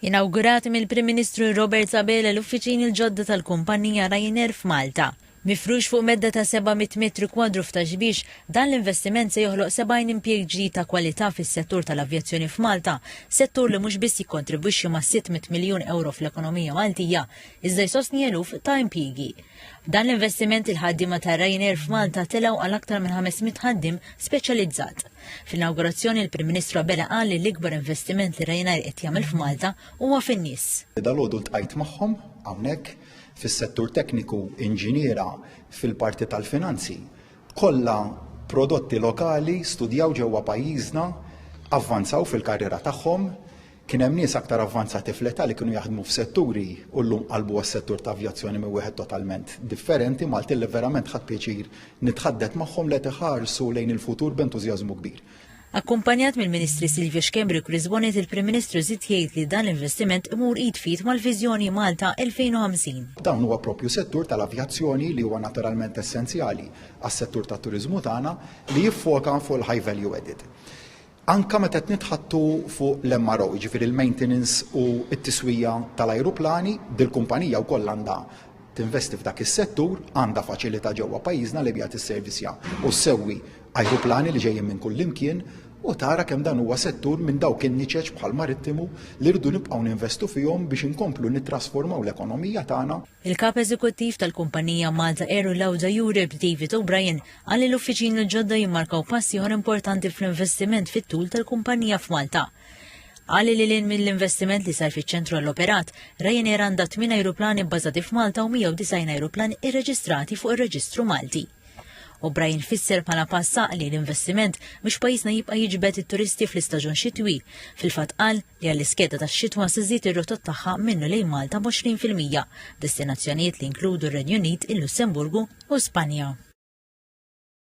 Inawgurati mill-Prim Ministru Robert Abela l-uffiċini l-ġodda tal-kumpannija Ryanair f'Malta. Mifrux fuq medda ta' 700 metru kwadru f'Ta' Xbiex, dan l-investiment se joħloq 70 impjieg ġdid ta' kwalità fis-settur tal-avjazzjoni f'Malta, settur li mhux biss jikkontribwixxi ma' 600 miljun ewro fl-ekonomija Maltija, iżda jsostni eluf ta' impjiegi. B'dan l-investiment il-ħaddiema ta' Ryanair f'Malta telgħu għal aktar minn 500 ħaddiem speċjalizzat. Fl-inawgurazzjoni l-Prim Ministru Abela qal li l-ikbar investiment li Ryanair qed jagħmel f'Malta huwa fin-nies. Dalgħodu ltqajt magħhom hawnhekk fis-settur tekniku inġiniera fil-parti tal-finanzi. Kollha prodotti lokali studjaw ġewwa pajjiżna, avvanzaw fil-karriera tagħhom, Kien hemm nies aktar avvanzati fl-età li kienu jaħdmu f'setturi u llum qalbu għas-settur ta' avjazzjoni minn wieħed totalment differenti, Maltin li verament ħadt pjaċir nitħaddet magħhom li qed iħarsu lejn il-futur b'entużjażmu kbir. Akkumpanjat mill-Ministri Silvio Schembri u Chris Bonett il-Prim Ministru żied jgħid li dan l-investiment imur id f'id mal-viżjoni Malta 2050. Dan huwa proprju settur tal-avjazzjoni li huwa naturalment essenzjali għas-settur tat-turiżmu tagħna li jiffoka fuq il-high value added. Anke meta qed nitħaddtu fuq l-MRO, jiġifieri l-maintenance u t-tiswija tal-ajruplani, dil-kumpanija wkoll għandha tinvesti f'dak is-settur, għandha faċilità ġewwa pajjiżna li biha tisservisja u ssewwi ajruplani li ġejjin minn kullimkien u tara kemm dan huwa settur minn dawk in-niċeċ bħall-marittimu li rridu nibqgħu ninvestu fihom biex inkomplu nittrasformaw l-ekonomija tagħna Il-Kap Eżekuttiv tal-kumpanija Malta Air u Lauda Europe, David O'Brien, qal li l-uffiċini l-ġodda jimmarkaw pass ieħor importanti fl-investiment fit-tul tal-kumpanija f'Malta. Qal li lil hinn mill-investiment li sar fiċ-ċentru għall-operat, Ryanair għandha tmien ajruplani bbażati f'Malta u 190 ajruplan irreġistrati fuq ir-reġistru Malti. U Brian fisser bħala pass għaqli l-investiment biex pajjiżna jibqa' jiġbed it-turisti fl-istaġun xitwi. Fil-fatt qal li għall-iskeda tax-xitwa se żżid ir-rotot tagħha minnu lejn Malta b'20 fil-mija, b'destinazzjonijiet li jinkludu r-Renju Unit, il-Lussemburgu u Spanja.